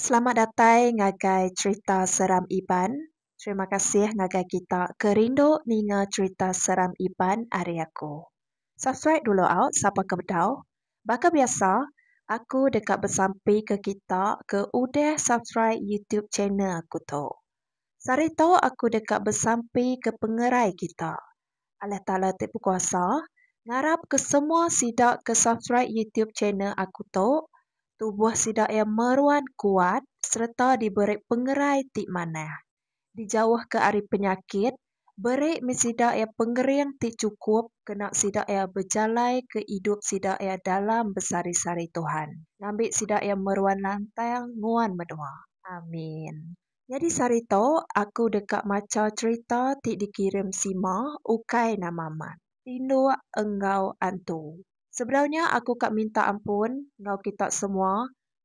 Selamat datai ngagai cerita seram Iban. Terima kasih ngagai kita ke rindu ninga cerita seram Iban ari aku. Subscribe dulu au sapa ke bedau. Baka biasa, aku deka besampi ke kita ke udah subscribe YouTube channel aku tu. Sehari tu aku deka besampi ke pengerai kita. Allah Taala ti bekuasa ngarap ke semua sida ke subscribe YouTube channel aku tu tubuh sida iya meruan kuat sereta diberi pengerai ti manah, dijauhka ari penyakit, beri mih sida iya pengering ti chukup kena sida iya bejalaika idup sida iya dalam besari-sari Tuhan ngambi sida iya meruan lantang nguan menua. Amin. Nyadi sehari tu, aku deka macha cherita ti dikirim Sima ukai nama mat, Tinduk enggau Antu. Sebedau nya aku ka minta ampun enggau kita semua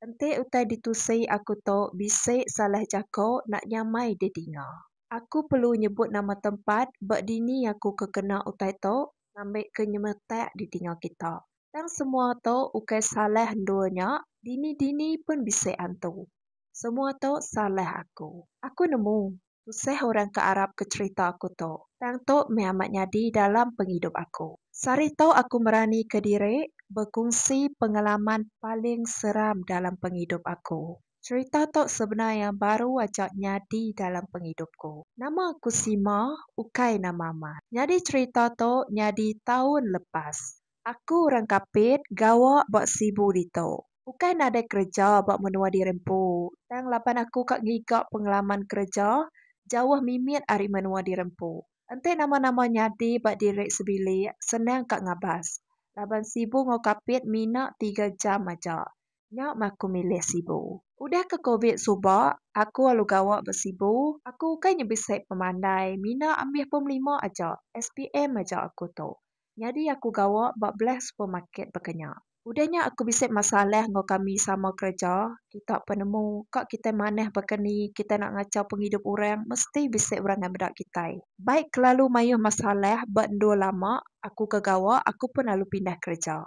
enti utai ditusi aku tu bisi salah jaku nak nyamai didinga. Aku perlu nyebut nama tempat ba dini aku ke kena utai tu ngambika nyemetak didinga kita. Tang semua tu ukai salah endur nya, dini-dini pun bisi antu. Semua tu salah aku. Aku nemu, tusah orang ke arapka cherita aku tu. Tang tu meh amat nyadi dalam pengidup aku. Sehari tu aku meranika diri bekungsi pengalaman paling seram dalam pengidup aku. Cherita tu sebenar iya baru aja nyadi dalam pengidupku. Nama aku Sima, ukai nama amat. Nyadi cherita tu nyadi taun lepas. Aku orang Kapit gawa ba Sibu ditu. Ukai nadai kereja ba menua diri empu, tang laban aku ka ngiga pengelaman kereja jauh mimit ari menua diri empu. Enti nama-nama nyadi ba diri sebilik, senang ka ngabas. Laban Sibu enggau Kapit mina tiga jam aja. Nya meh aku milih Sibu. Udah ke Covid suba, aku alu gawa ba Sibu. Aku ukai nyebisik pemandai, mina ambih pom lima aja, SPM aja aku tu. Nyadi aku gawa ba belah supermarket baka nya. Udah nya aku bisi masalah enggau kami sama kereja, kita penemu ka kitai manah baka ni kitai enda ngachau pengidup orang mesti bisi orang ngai meda kitai. Bai kelalu mayuh masalah ba endur lama aku ke gawa aku pun lalu pindah kereja.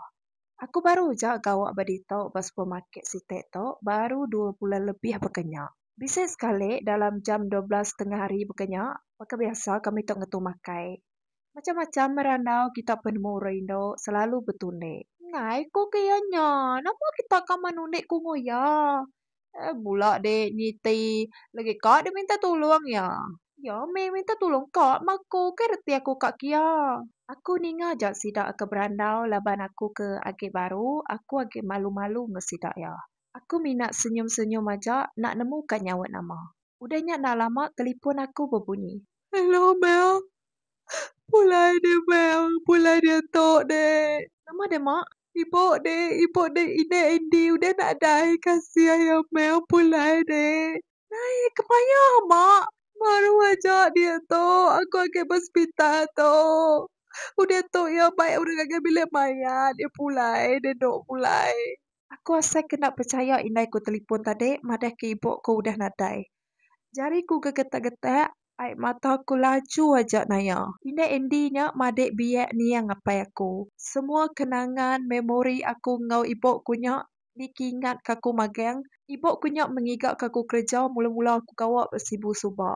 Aku baru aja gawa ba ditu ba supermarket siti tu baru dua bulan lebih baka nya. Bisi sekali dalam jam dua belas tengah hari baka nya, baka biasa kami tu ngetu makai. Macam-macam merandau kita penemu orang indu selalu betulik. Ngai ko ke iya nya, nama kita ka menulik kungu iya. Eh bula de niti legi ka de minta tulong iya. Iya meh minta tulong ka ma aku ke reti aku ka kiya. Aku ninga ja sida ke berandau laban aku ke agi baru aku agi malu-malu enggau sida iya. Aku mina senyum-senyum aja enda nemu ka nyaut nama. Udah nya enda lama telipon aku bebunyi. Hello Mel. Pulai deh Mel. Pulai diatu deh. Nama deh mak. Ibu deh. Ibu deh inde Andy udah nadai kasih ayo Mel pulai deh. Nai kemaya mak. Baru aja diatu aku agi ba sepital tu. Udah tu iya bai urang ngagai bilik mayat iya pulai deh endo pulai. Aku asai kena pechaya indai ku telipon tadi madah ke ibu ku udah nadai. Jari ku gegetak-getak, ai mata ku laju aja naya. Indai Andy nya madik biak niang apai aku. Semua kenangan, memori aku enggau ibu ku nya niki ingat ka aku magang. Ibu ku nya mengiga ka aku kereja mula-mula aku gawa ba Sibu suba.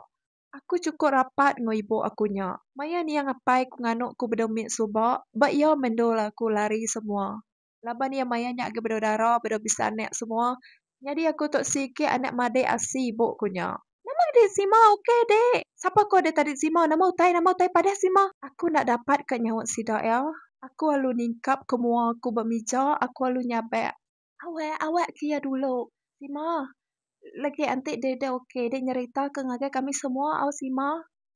Aku chukup rapat enggau ibu aku nya. Maya niang apai ku nganu ku bedau mit suba, ba iya mendul aku lari semua. laban iya maya nya agi bedau dara bedau bisi anak semua nyadi aku tu sigi anak madik asi ibu ku nya. Nama agi sima ok dik sapa ko dik tadi sima nama utai nama utai padah sima aku enda dapat ka nyaut sida iya aku alu ningkap ko mua aku ba mija aku alu nyabak awak awak ke iya dulu sima lagi enti deh ok deh nyerita ke ngagai kami semua au sima.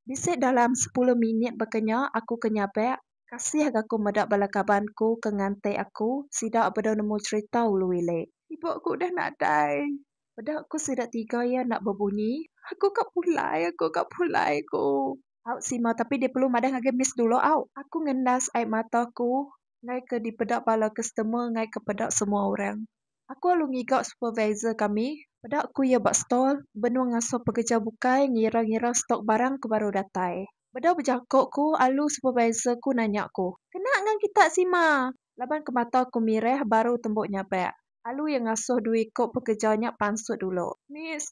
Bisi dalam sepuluh minit baka nya aku ke nyabak. Kasih ga ku meda bala kaban ku ke nganti aku, sida bedau nemu cherita ulu ili. Ibu aku udah nadai. Peda ku sida tiga iya enda bebunyi. Aku ka pulai aku ka pulai ku. Au sima tapi deh perlu madah ngagai miss dulu au. Aku ngendas ai mata ku ngai ke dipeda bala customer ngai ke peda semua orang. Aku alu ngiga supervisor kami peda ku iya ba stall benung ngasuh pekereja bukai ngira-ngira stok barang ke baru datai. Bedau bejako ku alu supervisor ku nanya ku, Kena ngan kita sima? Laban ke mata ku mireh baru tembu nyabak. Alu iya ngasuh dua iko pekereja nya pansut dulu. Miss,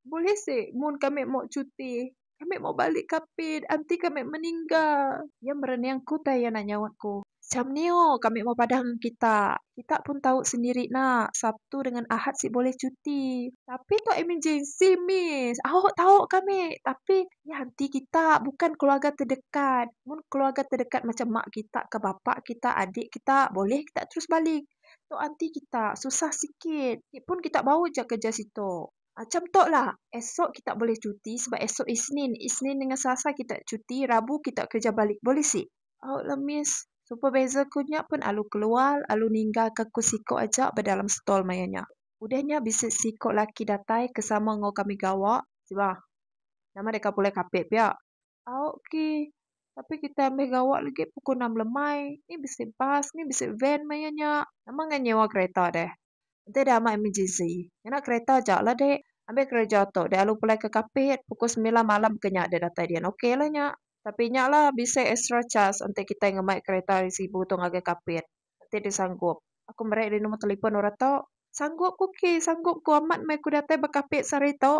bulih si mun kami mau cuti? Kami mau balik ka pit enti kami meningga. Iya merening ku utai anak nyaut ku. Cham nio kami mau padah ngan kita. Kita pun tau sendiri na, Sabtu dengan Ahad sik boleh cuti. Tapi tau emergency miss. Aho tau kami tapi iya enti kita bukan keluarga terdekat. Mun keluarga terdekat macam mak kita ka bapa kita adik kita boleh kita terus balik. Tau enti kita susah sikit. Ti pun kita bau ja kerja situ. Acham tok la. Esok kita boleh cuti sebab esok isnin. Isnin dengan selasa kita cuti, rabu kita kerja balik boleh sik? Au la miss. Supervisor ku nya pun alu keluar alu ninggal ka ku siko aja ba dalam stall maya nya. Udah nya bisi siko laki datai ke sama enggau kami gawa. Siba. Nama deka pulai kapit pia. Au okey. Tapi kitai ambih gawa legi pukul enam lemai. Ni bisi bas, ni bisi van maya nya. Nama ngai nyewa kereta deh. Enti deh amat emergency. Ngena kereta aja lah dek. Ambih kereja tu dek alu pulai ke Kapit pukul semilan malam baka nya dek datai dian okey lah nya. Tapi nya lah bisi extra charge enti kitai ngemai kereta ari Sibu tu ngagai Kapit. Enti deh sanggup. Aku meri deh nombor telefon orang tu. Sanggup ku okey. Sanggup ku amat meh ku datai ba Kapit sehari tu.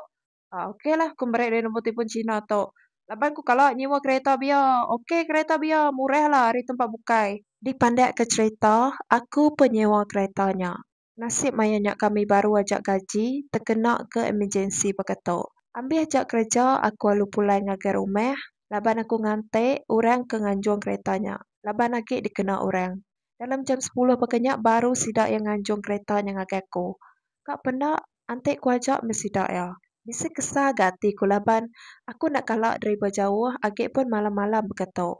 Ah ok lah aku meri dia nombor telefon Cina tu. Laban ku kala nyewa kereta bia. Ok kereta bia murah lah ari tempat bukai. Dipandak ke cerita aku pe nyewa kereta nya. Nasib maya nya kami baru aja gaji tekena ke emergency baka tu. Ambis ja kereja aku alu pulai ngagai rumah laban aku nganti orang ke nganjung kereta nya laban agi dikena orang. Dalam jam sepuluh baka nya baru sida iya nganjung kereta nya ngagai aku. Ka penda Antek ku aja meh sida iya. Bisi kesal ga ati ku laban aku enda kala deriba jauh agi pun malam-malam baka tu.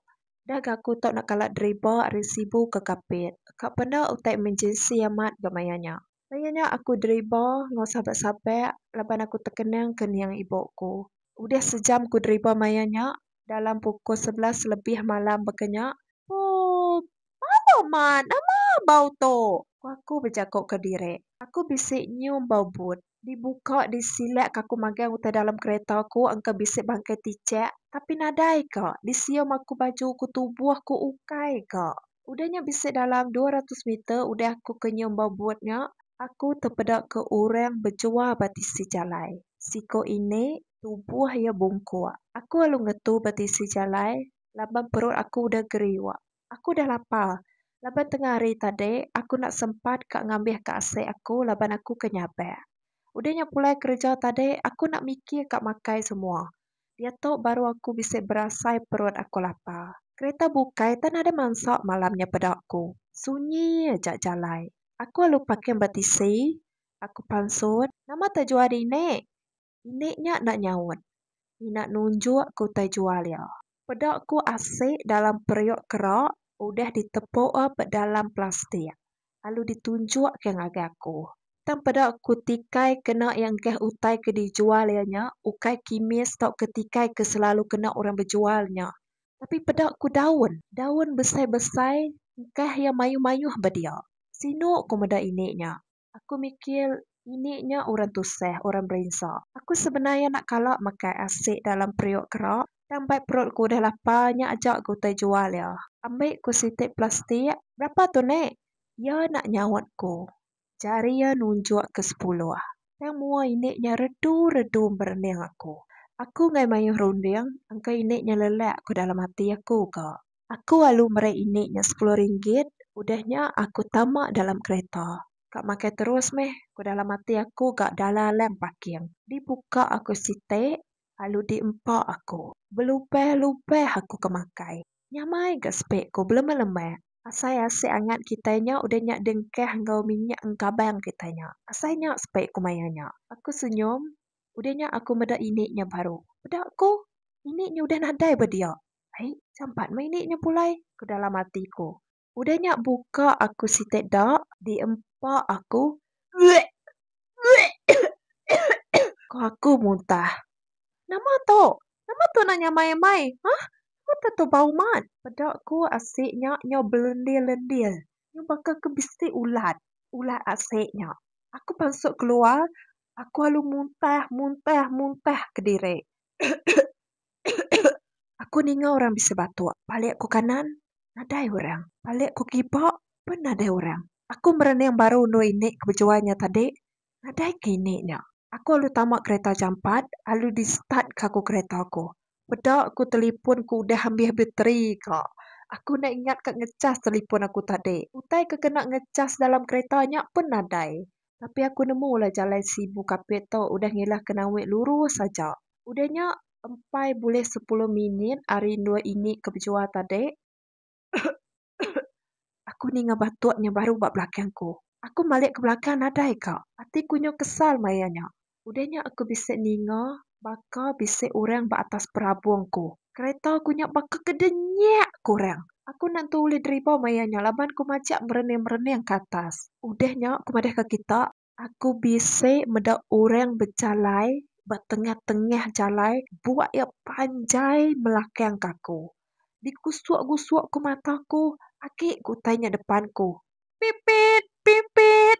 Dah ga aku tu enda kala deriba ari Sibu ke Kapit. Ka peda utai emergency amat ga maya nya. Maya nya aku deriba enggau sabak-sabak laban aku tekenang ke niang ibu ku. Udah sejam ku deriba maya nya dalam pukul sebelas lebih malam baka nya. Poopp. Malu mat, nama bau tu? ku aku bejaku ke diri. Aku bisi nyium bau but. Dibuka disilak ke aku magang utai dalam kereta aku engka bisi bangkai tichak tapi nadai ka disium aku baju ku tubuh ku ukai ka. Udah nya bisi dalam dua ratus meter udah aku ke nyium bau but nya, aku tepeda ke orang bejual ba tisi jalai. Siko ini tubuh iya bungkuk. Aku alu ngetu ba tisi jalai laban perut aku udah geriuk. Aku dah lapar laban tengah hari tadi aku enda sempat ka ngambihka asik aku laban aku ke nyabak. Udah nya pulai kereja tadi aku enda mikir ka makai semua. Diatu baru aku bisi berasai perut aku lapar. Kereta bukai tan ada mansa malam nya peda ku. Sunyi aja jalai. Aku alu paking ba tisi. Aku pansut. Nama taja juah dinik? Indik nya enda nyaut. Ina nunjuk ke utai jual iya. Peda ku asik dalam periuk kera udah ditepua bedalam plastik lalu ditunjuk ke ngagai aku. Tang peda ku tikai kena iya enggah utai ke dijual iya nya ukai kimis tauka tikai ke selalu kena orang bejual nya. Tapi peda ku daun. Daun besai-besai engkah iya mayuh-mayuh ba dia. Sinu ku meda indik nya. Aku mikir ini nya orang tusah, orang berinsa. Aku sebenar iya enda kala makai asik dalam periuk kera, tang bai perut ku udah lapar nya aja ku utai jual iya. Ambi ku sitik plastik. Berapa tu nek? Iya enda nyaut ku. Jari iya nunjuk ke sepuluh. Tang mua ini nya redu redu berening aku. Aku enggai mayuh runding, engka ini nya lelak ku dalam ati aku ka. Aku alu meri indi nya sepuluh ringgit udah nya aku tama dalam kereta. Ka makai terus meh ku dalam ati aku ga dalam lang parking. Dibuka aku siti alu di empa aku. Belubah lubah aku ke makai. Nyamai ga sepi ku belemak lemak. Asai asik angat kitai nya udah nya dengkah enggau minyak engkabang kitai nya. Asai nya sepi ku maya nya. Aku senyum udah nya aku meda indi nya baru. Peda ku indi nya udah nadai ba dia. Ai, jampat meh ini nya pulai, ku dalam ati ku. Udah nya buka aku siti da diempa aku. Uek! Uek! Ku aku muntah. Nama tu? Nama tu nak nyamai amai? Hah? Nama tu tu bau mat? Peda ku asi nya nyau belendil-lendil. Nyau baka ke bisi ulat. Ulat asi nya. Aku pansut keluar, aku alu muntah, muntah, muntah kediri. Aku ninga orang bisi batuk palik aku kanan nadai orang palik aku kiba pun nadai orang aku merening baru anu indi ke bejuai nya tadi nadai ke indi nya aku lalu tama kereta jampat lalu di start ka aku kereta aku peda ku talipon ku udah ambis bateri ka aku enda ingat ka ngechas talipon aku tadi utai ke kena ngechas dalam kereta nya pun nadai. Tapi aku nemu ulah jalai Sibu Kapit tu udah ngilah ke nawi lurus aja. Udah nya empai bulih sepuluh minit ari endur ini ke bejua tadi. Aku ninga batuk nya baru ba belakang ku. Aku malik ke belakang nadai ka. Ati ku nyu kesal maya nya. Udah nya aku bisi ninga baka bisi orang ba atas perabung aku. Kereta aku nya baka kedenyak ku orang. Aku enda tentu ulih deriba maya nya laban ku majak merening-merening ke atas. Udah nya ku madahka kita, aku bisi meda orang bejalai ba tengah-tengah jalai buak iya panjai melakangka aku. Digusuk-gusuk ku mata aku, agi ku utai nya depan ku. Pipit! Pipit!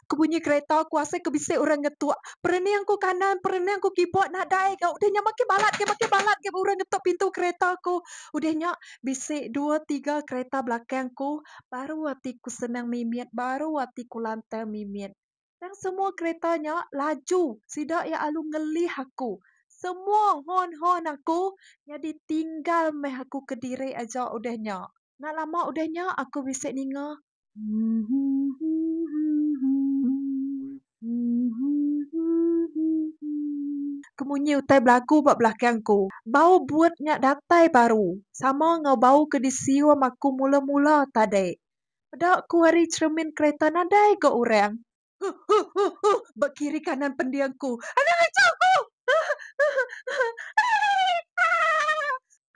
ke bunyi kereta ku asai ke bisi orang ngetuk perening ku kanan perening ku kibuk nadai ga udah nya makin balat ga makin balat ga orang ngetuk pintu kereta ku udah nya bisi dua tiga kereta belakang ku baru ati ku senang mimit baru ati ku lantang mimit tang semua kereta nya laju sida iya alu ngelih aku semua horn horn aku nyadi tinggal meh aku kediri aja udah nya enda lama udah nya aku bisi ninga Ke munyi utai belagu ba belakang aku. Bau buet nya datai baru sama enggau bau ke disium aku mula-mula tadi. Peda ku ari cheremin kereta nadai ga orang. Huh huh huh huh ba kiri kanan pending ku. Anang aja ku.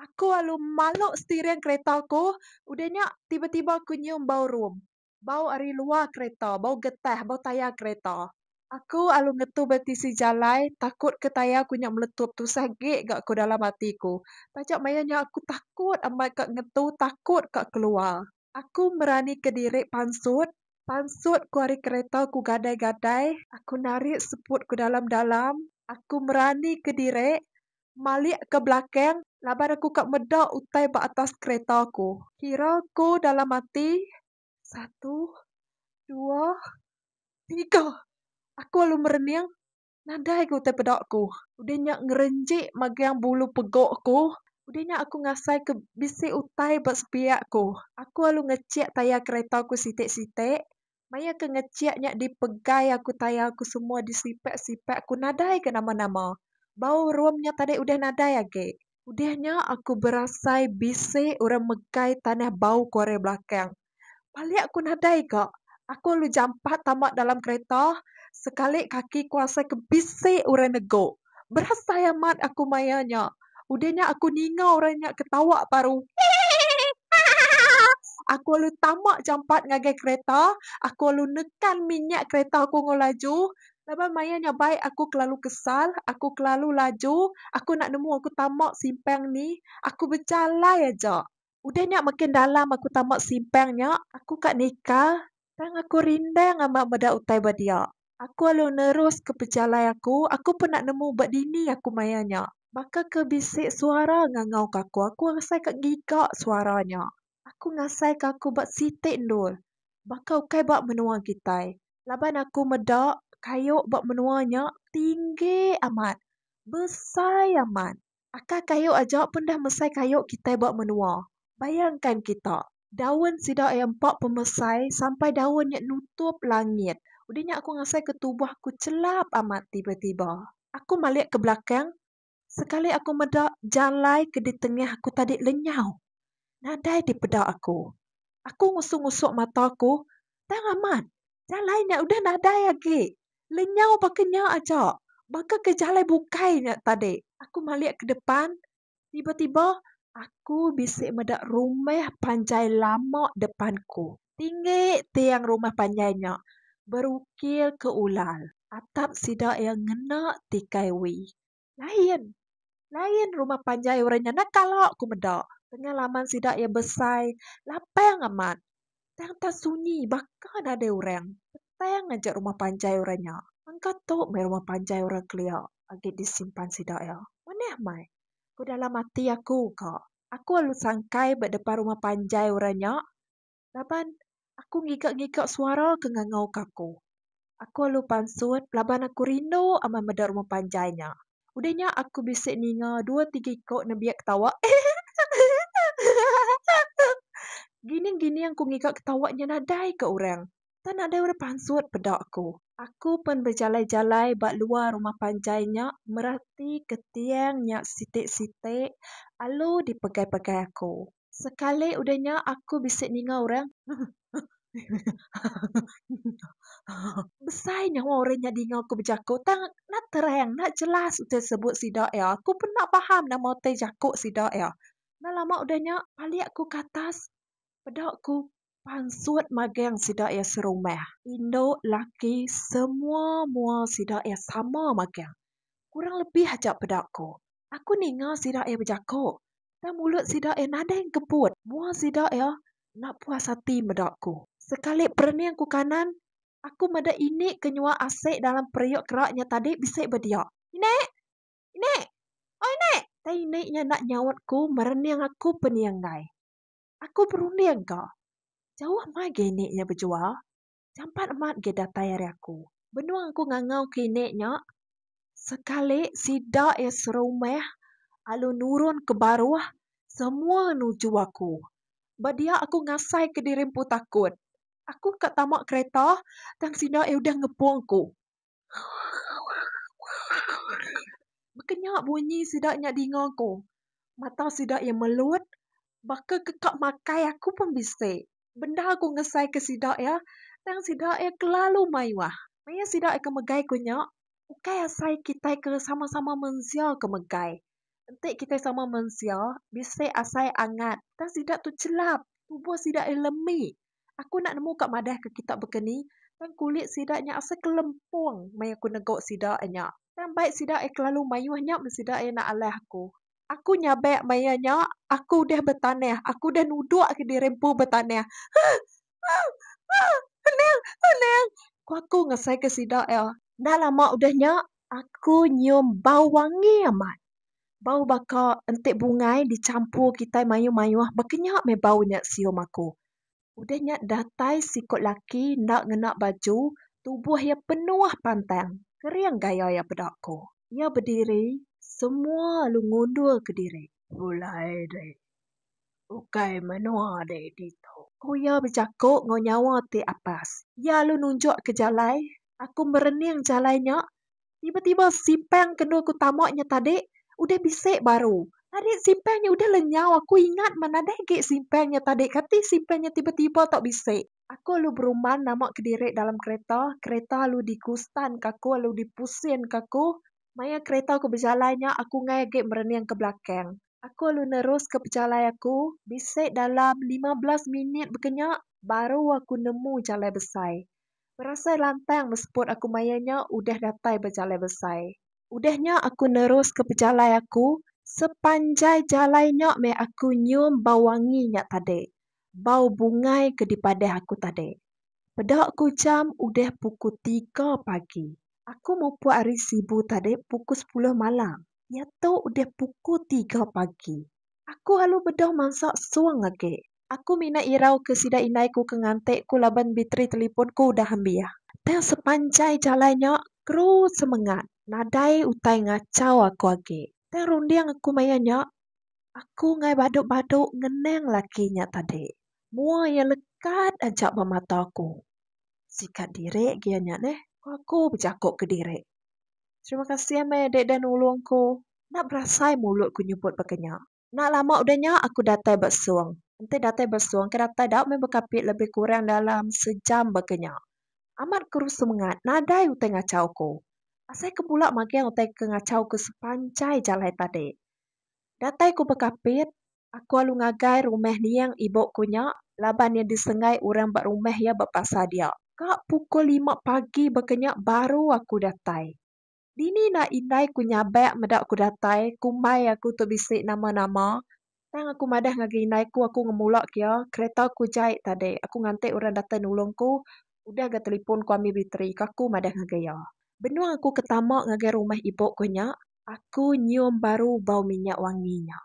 Aku alu malok steering kereta ku. Udah nya tiba tiba ku nyium bau rum. Bau ari luar kereta, bau getah, bau tayar kereta. Aku alu ngetu ba tisi jalai takut ke tayar ku nya meletup tusah gek ga ku dalam ati ku. Taja maya nya aku takut amat ka ngetu takut ka keluar. Aku meranika diri pansut, pansut ku ari kereta ku gadai-gadai. Aku narit seput ku dalam-dalam. Aku meranika diri malik ke belakang laban aku ka meda utai ba atas kereta ku. Kira ku dalam ati, satu, dua, tiga. Aku lalu merening. Nadai ga utai peda aku. Udah nya ngerenji magang bulu pegu aku. Udah nya aku ngasai ke bisi utai ba sepiak aku. Aku alu ngechik tayar kereta aku sitik-sitik. Maya ke ngechik nya dipegai aku tayar aku semua disipak-sipak aku nadai ga nama-nama. Bau rum nya tadi udah nadai agi. Udah nya aku berasai bisi orang megai tanah bau kuaran belakang. Palik aku nadai ka, aku lalu jampat tama dalam kereta sekali kaki ku rasa ke bisi orang nego. Berasai amat aku maya nya. Udah nya aku ninga orang nya ketawa baru hehehehehehe. Aku lalu tama jampat ngagai kereta, aku lalu nekan minyak kereta aku enggau laju Laban maya nya bai aku kelalu kesal, aku kelalu laju, aku enda nemu aku tama simpang ni, aku bejalai aja. Udah nya makin dalam aku tama simpang nya, aku ka nika tang aku rindang amat meda utai ba dia. Aku alu neruska pejalai aku, aku pun enda nemu ba dini aku maya nya. Baka ke bisi suara ngangauka aku, aku asai ka ngiga suara nya. Aku ngasaika aku ba siti endur baka ukai ba menua kitai laban aku meda kayu ba menua nya tinggi amat besai amat aka kayu aja pun dah mesai kayu kitai ba menua bayangkan kita daun sida iya empa pemesai sampai daun nya nutup langit udah nya aku ngasaika tubuh aku chelap amat tiba-tiba aku malik ke belakang. Sekali aku meda jalai ke ditengah aku tadi lenyau, nadai dipeda aku. Aku ngusuk-ngusuk mata aku, tang amat, jalai nya udah nadai agi. Lenyau baka nya aja, baka ke jalai bukai nya tadi. Aku malik ke depan, tiba-tiba aku bisi meda rumah panjai lama depan ku. Tinggi tiang rumah panjai nya berukir ke ulal. Atap sida iya ngena tikai wi. Lain! Lain rumah panjai orang nya nah kala ku meda. Tengah laman sida iya besai lapang amat. Tang tang sunyi baka nadai orang. Petang aja rumah panjai orang nya. Engka tu meh rumah panjai orang kelia agi disimpan sida iya. Manah meh! Ku dalam ati aku ka. Aku alu sangkai ba depan rumah panjai orang nya laban aku ngiga ngiga suara ke ngangau ke aku. Aku alu pansut laban aku rindu amat meda rumah panjai nya. Udah nya aku bisi ninga dua tiga iko nembiak ketawa hehehehehehe. Gining gining aku ngiga ketawa nya nadai ka orang tang nadai orang pansut peda aku. Aku pen bejalai jalai ba luar rumah panjai nya merati ke tiang nya siti siti alu dipegai pegai aku. Sekali udah nya aku bisi ninga orang besai nyawa orang nya dinga aku bejaku tang enda terang enda jelas utai sebut sida iya. Aku pun enda paham nama utai jaku sida iya. Enda lama udah nya palik aku ke atas peda ku Pansut magang sida iya serumah. Indu laki semua mua sida iya sama magang. Kurang lebih aja peda ku. Aku ninga sida iya bejako. Tang mulut sida iya nadai engkebut. Mua sida iya enda puas ati meda ku. Sekali perening ku kanan, aku meda ini ke nyua asik dalam periuk kera nya tadi bisi ba dia. Inek! Inek! Oi inek! Tang ini nya enda nyaut ku merening aku pening enggai. Aku berunding ka. Jauh mah agi ini nya bejua. Jampat amat agi datai ari aku. Benung aku ngangau ke ini nya, sekali sida iya serumah alu nurun ke baruh semua nuju aku. Ba dia aku ngasai ke diri empu takut. Aku ka tama kereta tang sida iya udah ngepung aku. Baka nya bunyi sida nya dinga aku. Mata sida iya melut baka ke ka makai aku pun bisi. Bendar aku ngesaika sida iya tang sida iya kelalu mayuh. Maya sida iya ke megai ku nya ukai asai kitai ke sama-sama mensia ke megai. Enti kitai sama mensia bisi asai angat tang sida tu chelap tubuh sida iya lemi Aku enda nemu ka madah ke kita baka ni tang kulit sida nya asa kelempong meh aku nego sida nya. Tang bai sida ai kelalu mayuh nya meh sida ai enda alah aku. Aku nyabek maya nya aku udah betanah aku udah nudok ke diri empu betanah. Huh huh huh. Anang anang. Ku aku ngasai ke sida iya. Enda lama udah nya Aku nyium bau wangi amat. Bau baka enti bungai dichampur kitai mayuh-mayuh baka nya meh bau nya sium aku. Udah nya datai siku laki enda ngena baju, tubuh iya penuh pantang, kering gaya iya peda aku. Iya bediri, semua lalu ngundurka diri. Pulai deh. Ukai menua deh ditu. Ku iya bejaku enggau nyawa ti apas. Iya lalu nunjukka jalai Aku merening jalai nya, tiba-tiba sipang ke enda aku tama nya tadi udah bisi baru. Tadi sipang nya udah lenyau aku ingat meh nadai agi sipang nya tadi kati sipang nya tiba-tiba tau bisi. Aku alu beruman nama kediri dalam kereta, kereta alu digustan ke aku alu dipusin ke aku. Maya kereta aku bejalai nya aku enggai agi merening ke belakang. Aku alu nerus ke pejalai aku, bisi dalam lima belas minit baka nya baru aku nemu jalai besai. Berasai lantang mesput aku maya nya udah datai ba jalai besai. Udah nya aku neruska pejalai aku, sepanjai jalai nya meh aku nyium bau wangi nya tadi, bau bungai ke dipadah aku tadi. Peda ku jam udah pukul tiga pagi. Aku mupuk ari Sibu tadi pukul sepuluh malam, diatu udah pukul tiga pagi. Aku alu bedau mansa sung agi. Aku mina irau ke sida indai ku ke nganti ku laban biteri telipon ku udah ambiah. Tang sepanjai jalai nya terus semengat nadai utai ngachau aku agi. Tang runding aku maya nya aku enggai badu-badu ngenang laki nya tadi. Mua iya lekat aja ba mata aku. Sika diri agi iya nya neh, ku aku bejaku kediri. Terima kasih meh dek udah nulung ku. Enda berasai mulut ku nyebut baka nya. Enda lama udah nya aku datai ba sung. Enti datai ba sung ke datai dau meh bekapi lebih kurang dalam sejam baka nya. Amat ku rusu mengat nadai utai ngachau ku. Asai ke pula magang utai ke ngachau ku sepanjai jalai tadi. Datai ku bekapit, aku alu ngagai rumah niang ibu ku nya laban iya disenggai orang ba rumah iya ba pasar dia. Ka pukul lima pagi baka nya baru aku datai. Dini enda indai ku nyabak meda ku datai ku mai aku tu bisi nama nama tang aku madah ngagai indai ku aku ngemula ku iya kereta ku jai tadi aku nganti orang datai nulung ku udah ga telefon ku ambi bateri ku aku madah ngagai iya benung aku ke tama ngagai rumah ibu ku nya aku nyium baru bau minyak wangi nya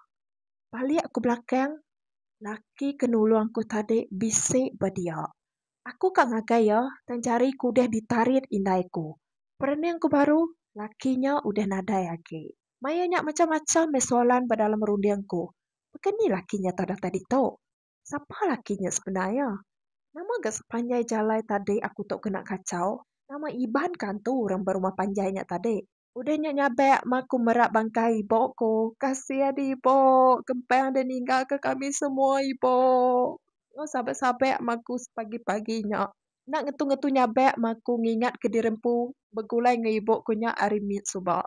balik ku belakang laki ke nulung aku tadi bisi ba dia Aku ka ngagai iya tang jari ku udah ditarit indai ku. Perening ku baru, laki nya udah nadai agi. Maya nya macham-macham meh soalan ba dalam runding ku. Baka ni laki nya tadah tadi tu? Sapa laki nya sebenar iya? Nama ga sepanjai jalai tadi aku tu kena kachau? Nama iban ka antu orang ba rumah panjai nya tadi? Udah nya nyabak mah aku merak bangkai ibu ku. Kasih deh ibu kempang deh ninggal ke kami semua ibu. Meh sabak sabak mah aku pagi pagi nya. Enda ngetu ngetu nyabak mah aku ngingat ke diri empu begulai enggau ibu ku nya hari mit suba.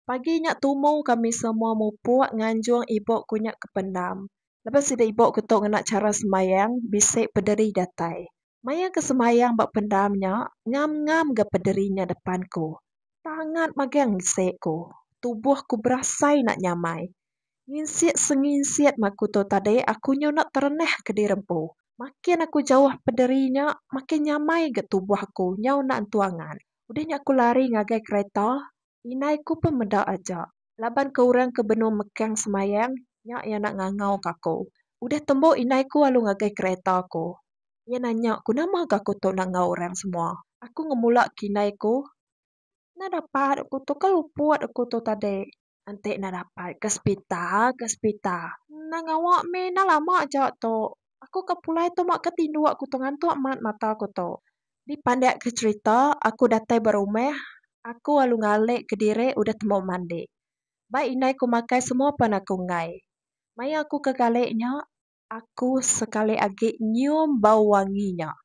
Pagi nya tumu kami semua mupuk nganjung ibu ku nya ke pendam. Lebuh sida ibu ku tu ngena chara sembahyang bisi pederi datai. Maya ke sembahyang ba pendam nya, ngam-ngam ga pederi nya depan ku. Tangat magang bisi ku. Tubuh ku berasai enda nyamai. Nginsik senginsik mah ku tu tadi aku nyu enda terenah ke diri empu. Makin aku jauh pederi nya, makin nyamai ga tubuh aku nyau enda entu angan. Udah nya aku lari ngagai kereta. Indai ku pun meda aja, laban ke orang ke benung mekang semayang nya iya enda ngangau ka aku. Udah tembu indai ku alu ngagai kereta aku. Iya nanya ku nama ga aku tu enda enggau orang semua. Aku ngemula ke indai ku, Enda dapat aku tu, ke luput aku tu tadi. Enti enda dapat ke sepita, ke sepita. Enda ngawa mih, enda lama aja tu. Aku ke pulai tu ma ke tinduk aku tu ngantuk mat mata aku tu. Dipandik ke cherita, aku datai ba rumah, aku lalu ngalik kediri udah temu mandi. Ba indai ku makai semua pan aku enggai. Maya aku ke kalik nya, aku sekali agi nyium bau wangi nya.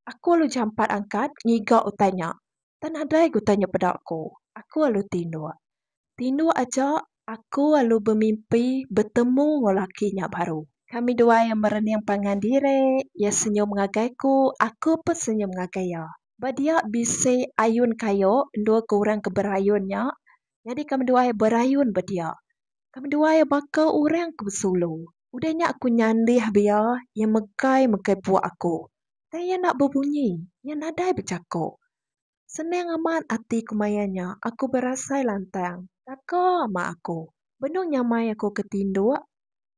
Aku lalu jampat angkat ngiga utai nya. Tang nadai ke utai nya peda aku. Aku lalu tinduk. Tindu aja aku lalu bemimpi betemu enggau laki nya baru. Kami dua iya merening pangan diri, iya senyum ngagai aku, aku pun senyum ngagai iya. Ba dia bisi ayun kayu endur ke orang ke berayun nya, nyadi kami dua iya berayun ba dia. Kami dua iya baka orang ke besulu. Udah nya aku nyandih ba iya, iya megai-megai puak aku. Tang iya enda bebunyi, iya nadai bejaku. Senang amat ati ku maya nya aku berasai lantang. Taka ama aku. Benung nyamai aku ke tinduk,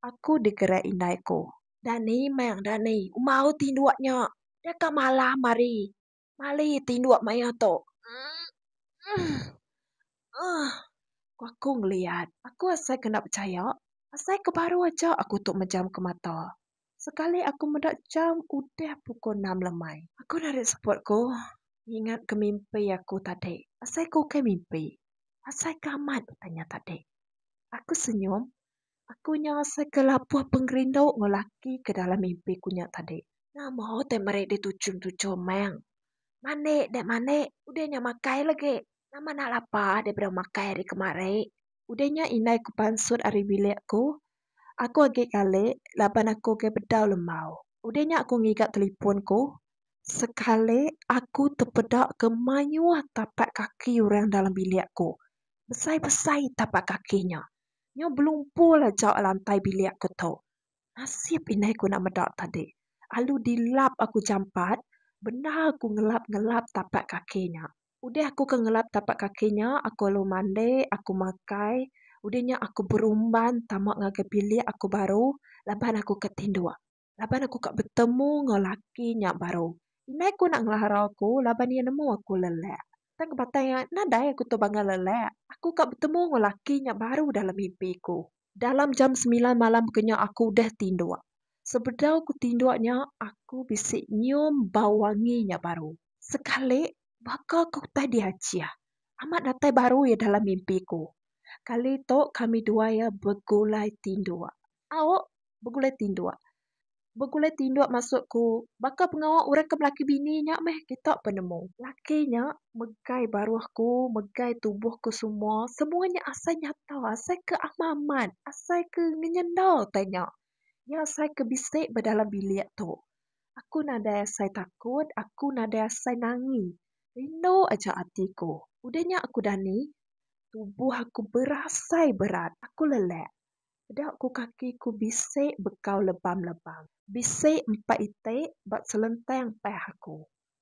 aku digerak indai ku. Dani mang dani umbau tinduk nya. Deka malam ari mali tinduk maya tu. Emm-emm-emm-emm ku aku ngeliat. Aku asai kena pechaya. Asai ke baru aja aku tu mejamka mata. Sekali aku meda jam udah pukul enam lemai. Aku narit seput aku ngingat ke mimpi aku tadi. Asai ke ukai mimpi? Asai ke amat tanya tadi? Aku senyum. Aku nya asai ke labuh pengerindu enggau laki ke dalam mimpi ku nya tadi. Nama utai meri ditujum-tujum meng. Mandi deh mandi. Udah nya makai lagi. Nama enda lapar daripada makai ari kemari. Udah nya indai ku pansut ari bilik aku. Aku agi ngalik laban aku ke bedau lembau. Udah nya aku ngiga telipon ku. Sekali aku tepeda ke mayuh tapak kaki orang dalam bilik ku. Besai-besai tapak kaki nya. Nya belumpul aja lantai bilik ku tu. Nasib indai ku enda meda tadi. Alu dilap aku jampat bendar ku ngelap-ngelap tapak kaki nya. Udah aku ke ngelap tapak kaki nya, aku lalu mandi, aku makai. Udah nya aku berumban tama ngagai bilik aku baru laban aku ke tinduk. Laban aku ka betemu enggau laki nya baru. Indai ku enda ngelarau aku laban iya nemu aku lelak. Tang kebatai nadai aku tu bangga lelak. Aku ka betemu enggau laki nya baru dalam mimpi ku. Dalam jam semilan malam ke nya aku udah tinduk. Sebedau ku tinduk nya aku bisi nyium bau wangi nya baru. Sekali baka ke utai diachih. Amat datai baru iya dalam mimpi ku. Kali tu kami dua iya begulai tinduk. Au, begulai tinduk. Begulai tinduk maksud ku baka pengawa urang ke belaki bini nya meh kita pun nemu. Laki nya megai baruh ku megai tubuh ku semua semua nya asai nyata asai ke amat amat asai ke ngenyenda utai nya. Nya asai ke bisi ba dalam bilik tu. Aku nadai asai takut aku nadai asai nangi rindu aja ati ku. Udah nya aku dani tubuh aku berasai berat aku lelek. Peda ku kaki ku bisi bekau lebam lebam. Bisi empa iti ba selentang pah aku.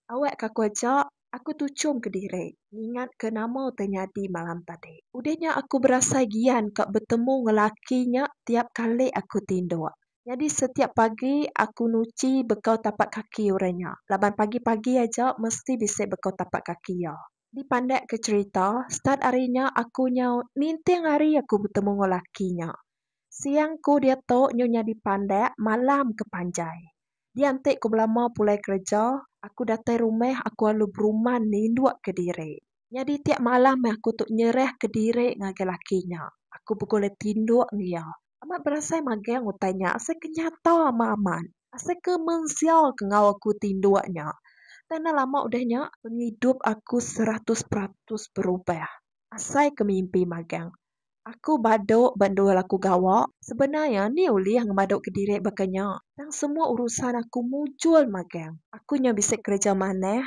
Awak ka aku aja, aku tuchum kediri ngingat ke nama utai nyadi malam tadi. Udah nya aku berasai gian ka betemu enggau laki nya tiap kali aku tinduk. Nyadi setiap pagi aku nuchi bekau tapak kaki orang nya laban pagi pagi aja mesti bisi bekau tapak kaki iya. Dipandak ke cerita, start ari nya aku nyau ninting hari aku betemu enggau laki nya. Siang ku diatu nyu nyadi pandak malam ke panjai. Dianti ku belama pulai kereja, aku datai rumah aku alu beruman ninduk ke diri. Nyadi tiap malam aku tu nyerah ke diri ngagai laki nya. Aku begulai tinduk enggau iya. Amat berasai magang utai nya asai ke nyata meh amat. Asai ke mensia ke enggau aku ti indu nya. Tang enda lama udah nya pengidup aku seratus peratus berubah. Asai ke mimpi magang. Aku badu ba endur laku gawa. Sebenar iya nih ulih ngemadu kediri baka nya. Tang semua urusan aku mujur magang. Aku nya bisi kereja manah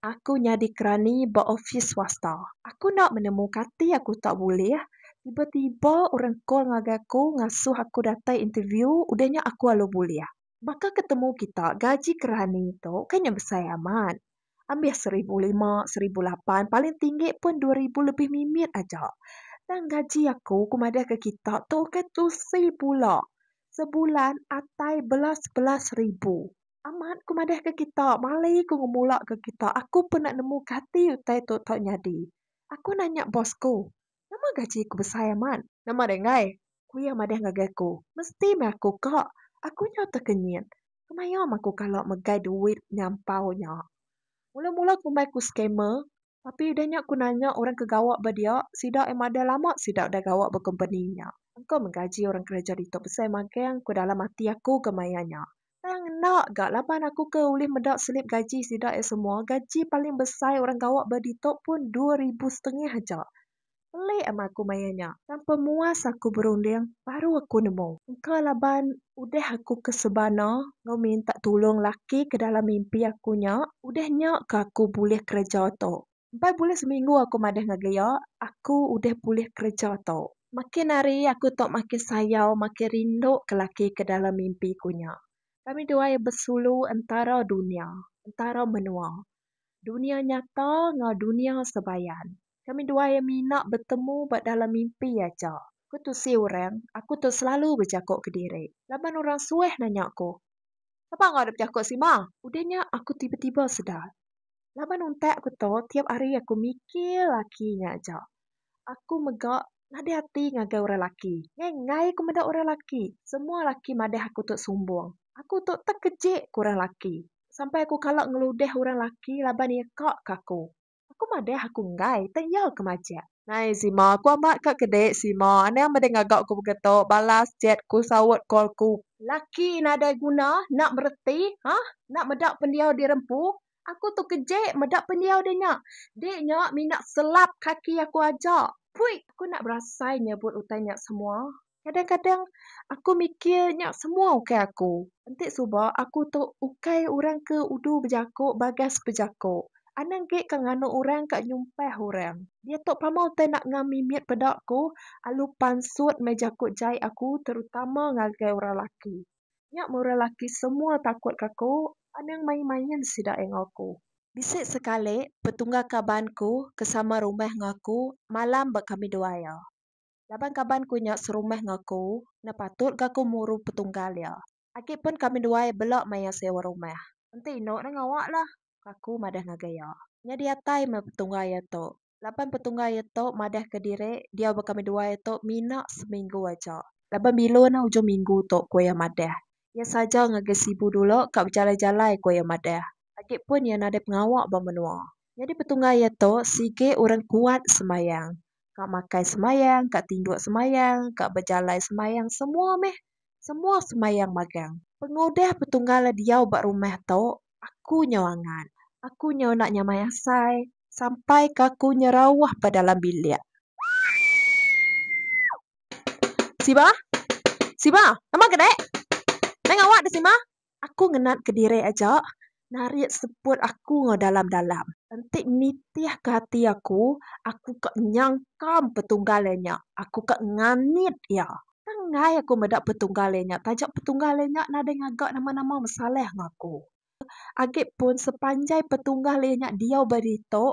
Aku nyadi kerani ba opis swasta. Aku enda menemu kati aku tu bulih. Tiba-tiba orang call ngagai aku ngasuh aku datai interview udah nya aku alu bulih. Baka ke temu kita gaji kerani tu kan nya besai amat. Ambis seribu lima, seribu lapan paling tinggi pun dua ribu lebih mimit aja. Tang gaji aku ku madah ke kita tu ukai tusi pula. Sebulan atai belas-belas ribu. Amat ku madahka kita, mali ku ngemulaka kita aku pun enda nemu kati utai tu tau nyadi. Aku nanya bos ku, Nama gaji ku besai amat? Nama deh enggai? ku iya madah ngagai aku. Mesti meh aku ka. Aku nyau tekenyit. Kemaya meh aku kala megai duit nyampau nya. Mula-mula kumbai ku scammer. Tapi udah nya aku nanya orang ke gawa ba dia, sida ai madah lama sida udah gawa ba kompeni nya. Engka meh gaji orang kereja ditu besai magang ku dalam ati aku ke maya nya. Tang enda ga laban aku ke ulih meda selip gaji sida ai semua, gaji paling besai orang gawa ba ditu pun dua ribu setengah aja. Pelik amat aku maya nya. Tanpa muas aku berunding baru aku nemu. Engka laban udah aku ke sebana enggau minta tulung laki ke dalam mimpi aku nya, udah nya ke aku bulih kereja tu. Empai bulan seminggu aku madah ngagai iya, aku udah bulih kereja tu. Makin hari aku tu makin sayau, makin rindu ke laki ke dalam mimpi ku nya. Kami dua iya besulu entara dunya, entara menua. Dunia nyata enggau dunia sebayan. Kami dua iya mina betemu ba dalam mimpi aja. Ku Tusi orang, aku tu selalu bejaku kediri. Laban orang suah nanya aku. Sapa enggau da bejaku sima? Udah nya aku tiba-tiba sedar. Laban untak aku tu tiap hari aku mikir laki nya aja. Aku mega nadai ati ngagai orang laki. Enggai aku meda orang laki. Semua laki madah aku tu sumbung. Aku tu tekejik ku orang laki. sampai aku kala ngeludih orang laki laban iya ka ke aku. Aku madah aku enggai tang iya ke majak. Nai Sima, aku amat ka ke dik. Sima, anang meda ngaga ku mega tu, balas chat ku saut call ku. Laki nadai guna enda mereti hah enda meda pendiau diri empu. Aku tu kejek meda pendiau diri nya. Dik nya mina selap kaki aku aja. Pui. Aku enda berasai nyebut utai nya semua. Kadang-kadang aku mikir nya semua ukai aku. Enti suba aku tu ukai orang ke udu bejaku bagas bejaku. Anang ge ka nganu orang ka nyumpah orang. Diatu pama utai enda ngam mimit peda aku alu pansut meh jaku jai aku terutama ngagai orang laki. Nya meh orang laki semua takut ka aku anang main-main sida enggau aku. Bisi sekali petungga kaban ku ke sama rumah enggau aku malam ba kami dua iya. Laban kaban ku nya serumah enggau aku, enda patut ga aku muru petunggal iya. Agi pun kami duai bela maya sewa rumah. Enti inu enda ngawa lah, ku aku madah ngagai iya. Nya diatai meh petunggal iya tu. Laban petunggal iya tu madah ke diri diau ba kami duai tu mina seminggu aja. Laban bilun ah ujung minggu tu, ku iya madah. Iya saja ngagai Sibu dulu ka bejalai-jalai, ku iya madah. Agi pun iya nadai pengawa ba menua. Nyadi petunggal iya tu sigi orang kuat sembayang. ka makai semayang ka tinduk semayang ka bejalai semayang semua meh semua semayang magang pengudah petunggal diau ba rumah tu aku nyau angat aku nyau enda nyamai asai sampai ka aku nyerauh ba dalam bilik siba siba nama ga deh nai ngawak deh siba. Aku ngena kediri aja narit seput aku enggau dalam dalam. Enti nitih ke ati aku, aku ka nyangkam petunggal iya nya. Aku ka nganit iya. Tang enggai aku meda petunggal iya nya taja petunggal iya nya nadai ngaga nama nama mesaleh enggau aku. Agi pun sepanjai petunggal iya nya diau ba ditu,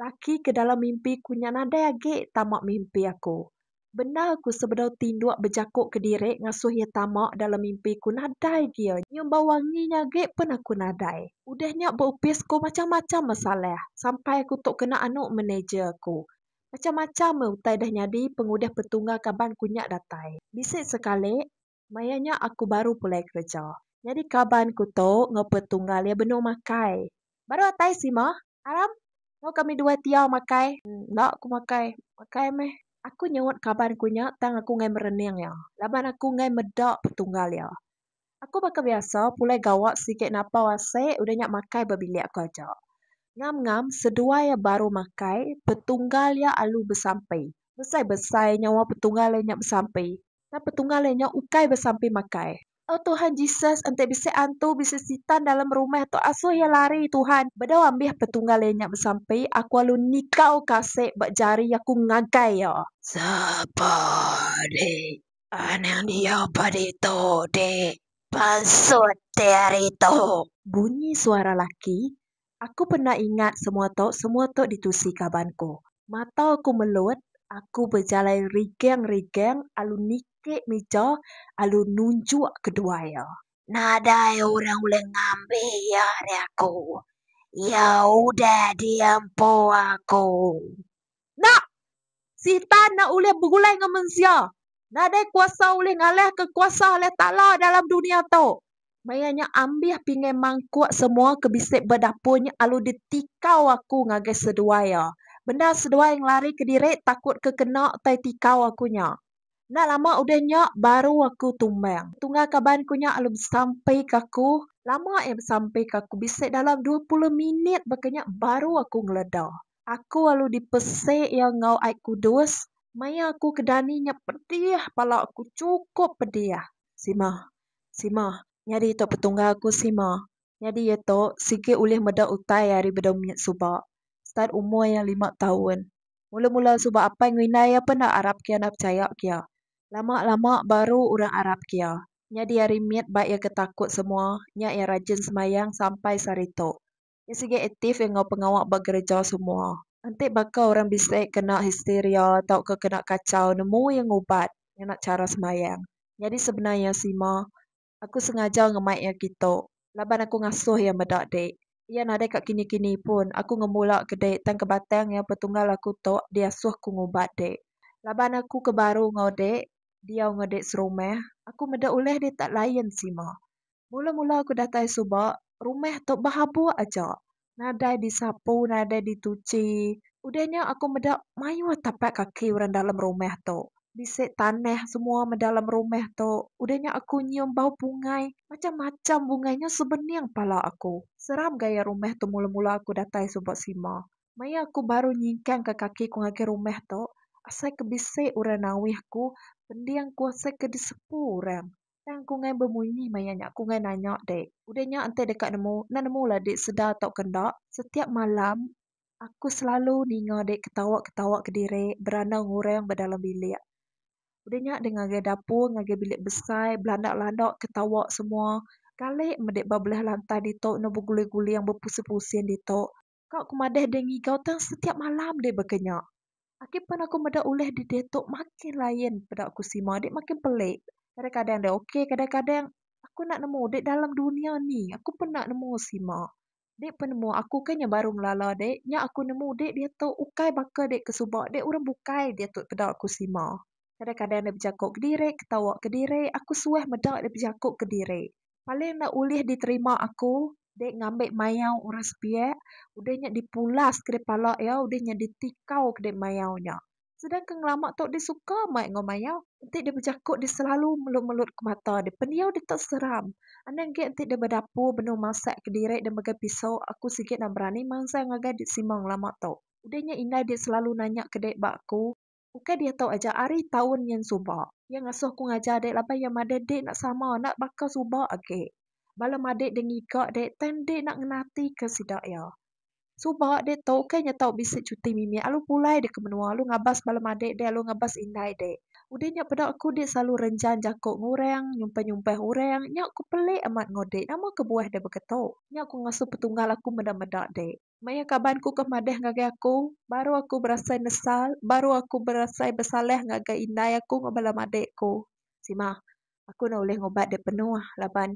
Laki ke dalam mimpi ku nya nadai agi tama mimpi aku. Bendar ku sebedau tinduk bejaku kediri ngasuh iya tama dalam mimpi ku nadai gia nyumbau wangi nya agi pun aku nadai. Udah nya ba opis ku macham-macham masalah sampai aku tu kena anu manager aku. Macham-macham meh utai dah nyadi pengudah petungga kaban ku nya datai. Bisi sekali. Maya nya aku baru pulai kereja. Nyadi kaban ku tu enggau petunggal iya benung makai. Baru atai sima, Aram, enggau kami dua ti iya makai. Enda aku makai. Makai meh. Aku nyautt kaban ku nya tang aku enggai merening iya laban aku enggai meda petunggal iya. Aku baka biasa pulai gawa sigi napau asi udah nya makai ba bilik aku aja. Ngam-ngam seduai iya baru makai, petunggal iya alu besampi. Besai-besai nyawa petunggal iya nya besampi. Tang petunggal iya nya ukai besampi makai. Tau Tuhan Jesus enti bisi antu bisi sitan dalam rumah tu asuh iya lari Tuhan. Bedau ambih petunggal iya nya besampi aku alu nikau kasik ba jari aku ngagai iya. Sapa di anang dia ba ditu di pansut ti hari tu? Bunyi suara laki, Aku pernah ingat semua tu, semua tu ditusi kaban ku. Mata aku melut, aku bejalai rigeng-rigeng alu niki mija alu nunjuk kedua iya. Nadai orang ulih ngambi iya ari aku. Iya udah diempu aku. Enda! Sitan enda ulih begulai enggau mensia. Nadai kuasa ulih ngalahka kuasa Alai Taala dalam dunya tu. Maya nya ambih pingai mangkuk semua ke bisi ba dapur nya alu ditikau aku ngagai seduai iya. Bendar seduai ngelari ke diri takut ke kena utai tikau aku nya. Enda lama udah nya baru aku tumbang. Tunggal kaban aku nya alu besampi ke aku. Lama iya besampi ke aku bisi dalam dua puluh minit baka nya baru aku ngeleda. Aku lalu dipese iya enggau Ai Kudus, maya aku ke dani nya pedih bala aku chukup pedih. Sima. Sima. Nyadi ito petunggal aku sima. Nyadi iya to sigi ulih meda utai ari bedau minyak suba start umur iya lima taun. Mula mula suba apai enggau indai iya pun enda arap ke iya enda pechaya ke iya. Lama lama baru orang arap ke iya. Nyadi ari mit ba iya ke takut semua nya iya rajin semayang sampai sehari ito. Iya sigi aktif enggau pengawa ba gereja semua. Enti baka orang bisi kena histeria tauka kena kachau, nemu iya ngubat ngena chara sembahyang. Nyadi sebenar iya sima, aku sengaja ngemai iya kitu laban aku ngasuh iya meda dik. Iya nadai ka kini-kini pun aku ngemula ke dik tang ke batang iya petunggal aku tu diasuh ku ngubat dik. Laban aku ke baru enggau dik, diau enggau dik serumah, aku meda ulih dik tak lain sima. Mula-mula aku datai suba, rumah tu behabuk aja. Nadai disapu, nadai dituchi. Udah nya aku meda mayuh tapak kaki orang dalam rumah tu. Bisi tanah semua meh dalam rumah tu. Udah nya aku nyium bau bungai. Macam-macam bungai nya sebening pala aku. Seram gaya rumah tu mula-mula aku datai suba sima. Maya aku baru nyingkangka kaki ku ngagai rumah tu, asai ke bisi orang nawih aku, pending aku asai ke disepu orang. Tang aku ngai bemunyi maya nya aku ngai nanya dek udah nya enti deka nemu enda nemu la dek sedar tau ke enda setiap malam aku selalu ninga dek ketawa ketawa kediri beranang orang ba dalam bilik udah nya dek ngagai dapur ngagai bilik besai belanda landa ketawa semua kali meh dek ba belah lantai ditu eno beguling guling bepusing pusing ditu. Ka ku madah deh ngigau tang setiap malam deh baka nya. Aki pan aku meda ulih di diatu makin lain peda ku sima deh makin pelik. Kadang kadang deh ok kadang kadang aku enda nemu deh dalam dunia ni aku pun enda nemu sima. Deh penemu aku ke nya baru ngelala deh nya aku nemu deh diatu ukai baka deh ke suba deh urang bukai diatu peda ku sima. Kadang kadang deh bejaku kediri ketawa kediri aku suah meda deh bejaku kediri. Paling enda ulih diterima aku dek ngambi mayau orang sepiak udah nya dipulas kede pala iya udah nya ditikau kede mayau nya. Sedangka ngelama tu deh suka mai enggau mayau enti deh bejaku deh selalu melut-melut ke mata deh pendiau deh tu seram. Anang ge enti deh bedapur benung masak kediri deh megai piso aku sigi enda berani mansang ngagai deh Simong lama tu. Udah nya indai deh selalu nanya kede ba aku. Ukai diatu aja ari taun nyin suba. Iya ngasuh aku ngajar dek laban iya madah dek enda sama enda baka suba agi. Bala madik dek ngiga dek tang dek enda ngena ati ke sida iya. Suba dek tu ukai nyatau bisi cuti mimit alu pulai dek ke menua alu ngabas bala madik dek alu ngabas indai dek. Udah nya peda aku dek selalu renjan jako ngurang nyumpah nyumpah urang nya aku pelik amat enggau dek nama kebuah dek baka tu. Nya aku ngasuh petunggal aku meda meda dek. Maya kaban ku ke madah ngagai aku, baru aku berasai nesal, baru aku berasai besalah ngagai indai aku enggau bala madik ku. Sima, aku enda ulih ngubat dek penuh laban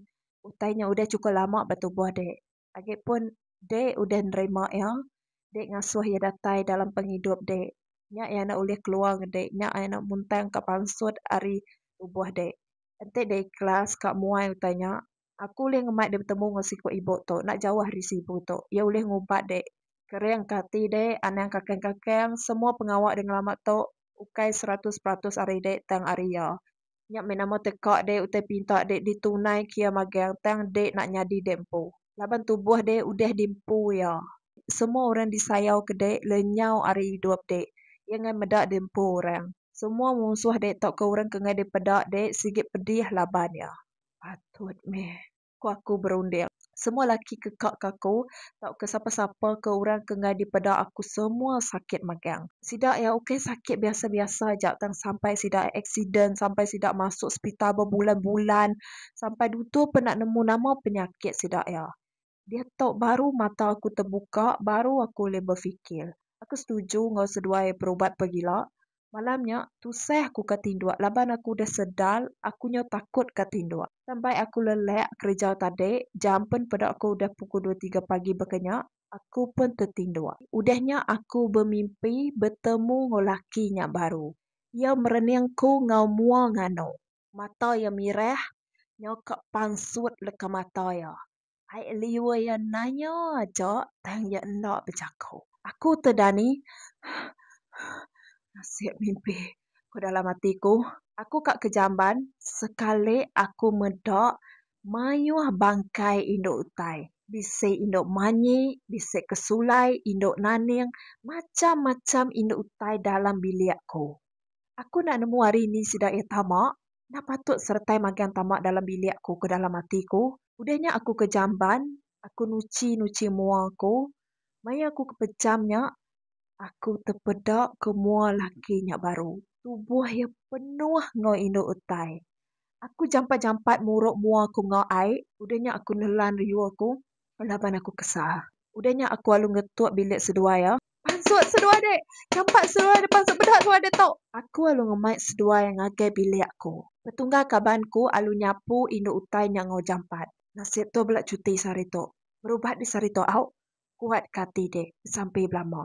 utai nya udah chukup lama ba tubuh dek. Agi pun dek udah nerima iya, dek ngasuh iya datai dalam pengidup dek. Nya iya enda ulih keluar ngan dek, nya iya enda muntang ka pansut ari tubuh dek. Enti dek ikhlas ka muai utai nya, Aku ulih ngemai deh betemu enggau siku ibu tu enda jauh ari sibu tu. Iya ulih ngubat deh kering ka ati deh anang kakang-kakang semua pengawa deh ngelama tu ukai seratus peratus ari deh tang ari iya. Nya meh nama teka deh utai pinta deh ditunai ke iya magang tang deh enda nyadi deh empu. Laban tubuh deh udah di empu iya. Semua orang disayau ke deh lenyau ari idup deh. Iya ngai meda deh empu orang. Semua munsuh deh tauka orang ke ngai deh peda deh sigi pedih laban iya. Patut meh ku aku berunding. Semua laki ke ka ke aku tauka sapa-sapa ke orang ke ngagai dipeda aku semua sakit magang. Sida iya ukai sakit biasa-biasa aja tang sampai sida aksiden, sampai sida masuk sepital bebulan-bulan, sampai dutur pun enda nemu nama penyakit sida iya. Diatu baru mata aku tebuka, baru aku ulih befikir. Aku setuju enggau seduai perubat pegila. Malam nya, tusah aku ka tinduk laban aku udah sedar aku nyau takut ka tinduk. Tang bai aku lelak kereja tadi, jam pen peda ko udah pukul dua tiga pagi baka nya, aku pun tetinduk. Udah nya aku bemimpi betemu enggau laki nya baru. Iya merening ku enggau mua nganu. mata iya mirah nyau ka pansut leka mata iya. Ai liur iya nanya aja tang iya enda bejaku. Aku tu Dani. Nasib mimpi ku dalam ati ku. Aku ka ke jamban sekali aku meda mayuh bangkai indu utai. Bisi indu manyi, bisi ke sulai, indu naning, macham-macham indu utai dalam bilik ku. Aku enda nemu ari ni sida iya tama. Enda patut seretai magang tama dalam bilik aku ke dalam ati aku. Udah nya aku ke jamban, aku nuchi nuchi mua aku. Maya aku ke pejam nya, aku tepeda ke mua laki nya baru. Tubuh iya penuh enggau indu utai. Aku jampat jampat muruk mua aku enggau ai. Udah nya aku nelan riu aku laban aku kesah. Udah nya aku alu ngetuk bilik seduai iya. Pansut seduai dek. Champat seduai dek pansut bedak seduai dek tok. Aku alu ngemai seduai ngagai bilik aku. Petunggal kaban ku alu nyapu indu utai nya enggau jampat. Nasib tu bela cuti sehari tu. Berubat di sehari tu au. Kuat ka ati dek. Besampi belama.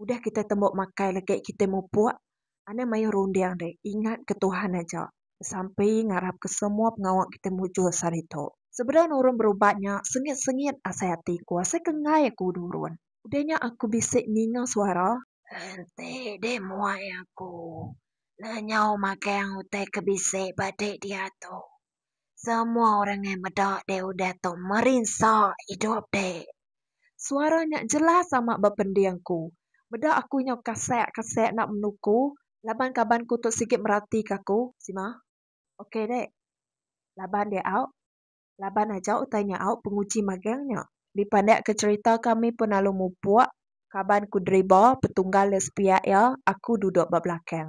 Udah kitai tembu makai legi kitai mupuk. Anang mayuh runding deh ingat ke Tuhan aja sampi ngarap ke semua pengawa kita mujur saritu. Sebedau nurun berubat nya sengit sengit asai ati ku asai ke enggai aku nurun udah nya aku bisi ninga suara. Enti deh muai aku lenyau magang utai ke bisi ba dek diatu. Semua orang ngai meda dek udah tu merinsa idup dek. Suara nya jelas amat bepending aku. Meda aku nyau kasek kasek enda menu ku laban kaban ku tu sigi meratika aku. Sima. Ok dek. Laban dek au. Laban aja utai nya au penguji magang nya. Dipandak ke cerita kami pun lalu mupuk kaban ku driba petunggal le sepiak iya aku duduk ba belakang.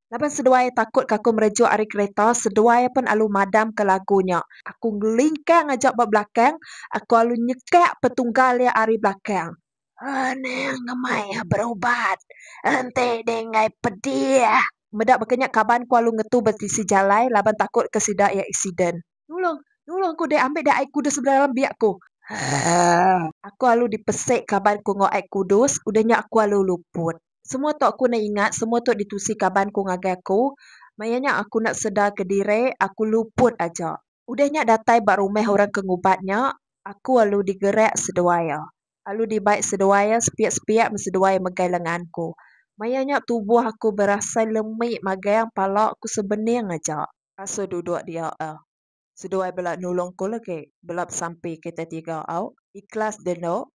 Laban seduai iya takut ke aku merejuk ari kereta, seduai iya pun alu madamka lagu nya. Aku ngelingkang aja ba belakang, aku alu nyekak petunggal iya ari belakang. Aning ngemai iya berubat, enti dih enggai pedih. Meda baka nya kaban aku alu ngetu ba tisi jalai laban takut ke sida iya eksiden. Nulung! Nulung aku deh ambi deh ai kudus sebedau dalam biak aku. Haa. Aku alu dipesik kaban aku enggau ai kudus, udah nya aku alu luput. Semua tu aku enda ingat, semua tu ditusi kaban ku ngagai aku. Maya nya aku enda sedar ke diri, aku luput aja. Udah nya datai ba rumah orang ke ngubat nya, aku alu digerak seduai iya. Alu dibai seduai iya sepiak-sepiak meh seduai megai lengan ku. Maya nya tubuh aku berasai lemi magang pala ku sebening aja. Asa duduk dia eh. Seduai bela nulung ku lagi, bela besampi kitai tiga au. Ikhlas deh endo.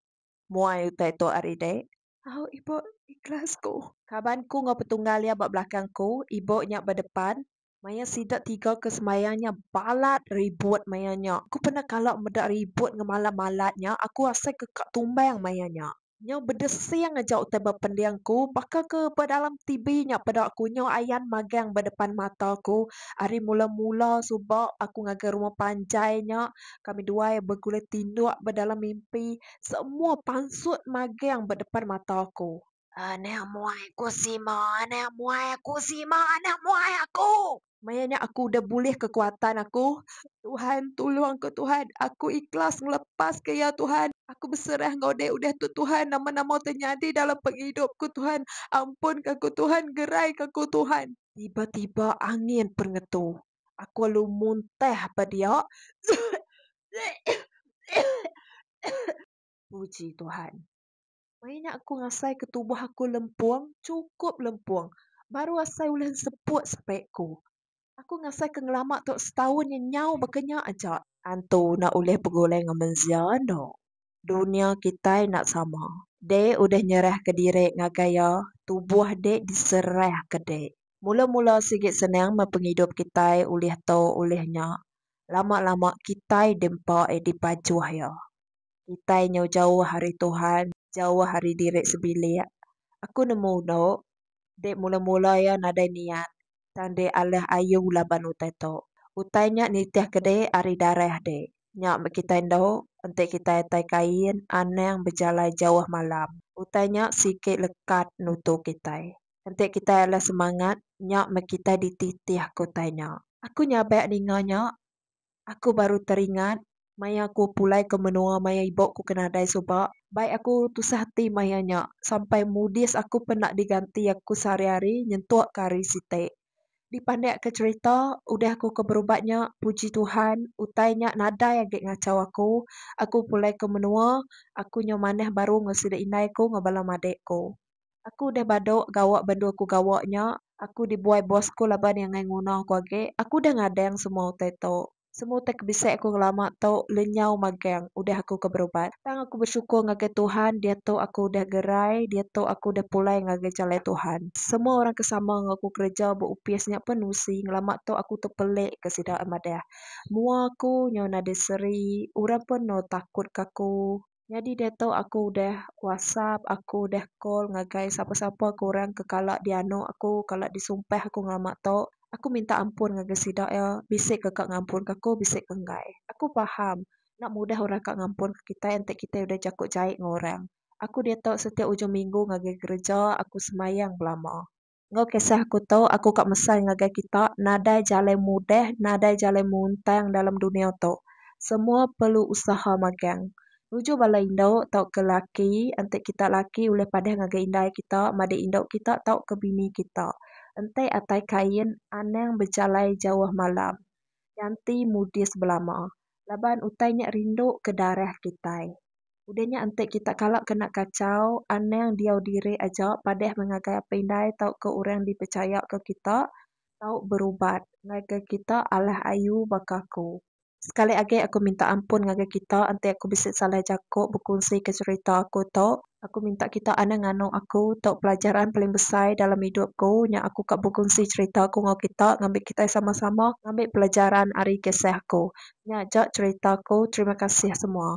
Muai utai tu ari dek. Au ibu ikhlas ku. Kaban ku enggau petunggal iya ba belakang ku, ibu nya ba depan. Maya sida tiga ke sembahyang nya balat ribut maya nya. Aku pernah kala meda ribut ngemala malat nya, aku asai ke ka tumbang maya nya. Nyau bedesing aja utai ba pending ku, baka ke ba dalam TV nya peda aku nyau ayan magang ba depan mata ku. Ari mula-mula suba aku ngagai rumah panjai nya, kami dua iya begulai tinduk ba dalam mimpi semua pansut magang ba depan mata aku. Anak muai aku sima anak muai aku sima anak muai aku. Maya nya aku udah bulih kekuatan aku. Tuhan tulung aku Tuhan aku ikhlas ngelepas ke iya Tuhan aku beserah enggau deh udah tu Tuhan nama nama ti nyadi dalam pengidup ku Tuhan ampun ka aku Tuhan gerai ka aku Tuhan. Tiba tiba angin perngetu Aku lalu muntah ba dia. Puji Tuhan. Maya nya aku ngasai ke tubuh aku lempung, chukup lempung. Baru asai ulih enseput sepak ku. Aku ngasai ke ngelama tu setaun nya nyau baka nya aja. Tantu enda ulih begulai enggau mensia enda. Dunya kitai enda sama. Dek udah nyerahka diri ngagai iya, tubuh dek diserahka dek. Mula-mula sigi senang meh pengidup kitai ulih tu ulih nya. Lama-lama kitai diempa iya dipajuh iya. Kitai nyau jauh ari Tuhan, jauh ari diri sebilik. Aku nemu endo, dek mula-mula iya nadai niat, tang dek alah ayu laban utai tu. Utai nya nitihka dek ari darah dek. Nya meh kitai endo, enti kitai atai kain, anang bejalai jauh malam. Utai nya sigi lekat nutu kitai. Enti kitai alai semangat, nya meh kitai dititih, ku utai nya. Aku nyabak ninga nya, aku baru teringat maya aku pulai ke menua maya ibu ku ke nadai suba. Bai aku tusah ati maya nya sampai mudis aku penda diganti aku sehari-hari nyentuk ke hari siti. Dipandik ke cherita udah aku ke berubat nya, puji Tuhan utai nya nadai agi ngachau aku. Aku pulai ke menua, aku nyau manah baru enggau sida indai ku enggau bala madik ku. Aku udah badu gawa ba endur aku gawa nya. Aku dibuai bos aku laban iya ngai nguna aku agi. Aku udah ngadang semua utai tu. Semua utai ke bisi aku ngelama tu lenyau magang udah aku ke berubat. Tang aku besyukur ngagai Tuhan diatu aku udah gerai, diatu aku udah pulai ngagai jalai Tuhan. Semua orang ke sama enggau aku kereja ba opis nya pun nusi ngelama tu aku tepelik ke sida madah mua aku nyau nadai seri. Orang pun enda takut ke aku. Nyadi diatu aku udah whatsapp, aku udah call ngagai sapa-sapa ke orang ke kala dianu aku, kala disumpah aku ngelama tu. Aku minta ampun ngagai sida iya, bisi ke ka ngampunka aku, bisi ke enggai. Aku paham, enda mudah orang ka ngampunka kitai enti kitai udah jaku jai enggau orang. Aku diatu setiap ujung minggu ngagai gereja, aku semayang belama. Enggau kisah aku tu, aku ka mesai ngagai kita, nadai jalai mudah, nadai jalai muntang dalam dunia tu. Semua perlu usaha magang. Nuju bala indu tauka laki, enti kita laki ulih padah ngagai indai kita, madik indu kita tauka bini kita. Enti atai kain, anang bejalai jauh malam. Nyanti mudis belama. Laban utai nya rindu ke darah kitai. Udah nya enti kita kala kena kachau, anang diau diri aja padah meh ngagai apai indai tauka orang dipechayaka kita tau berubat ngagai kita alah ayu baka aku. Sekali agi aku minta ampun ngagai kita enti aku bisi salah jaku bekunsika cherita aku tu. Aku minta kita anang nganu aku tau pelajaran paling besai dalam idup ku nya aku ka bekunsi cherita aku enggau kita ngambi kitai sama-sama ngambi pelajaran ari kisah aku. Nya aja cherita aku terima kasih semua.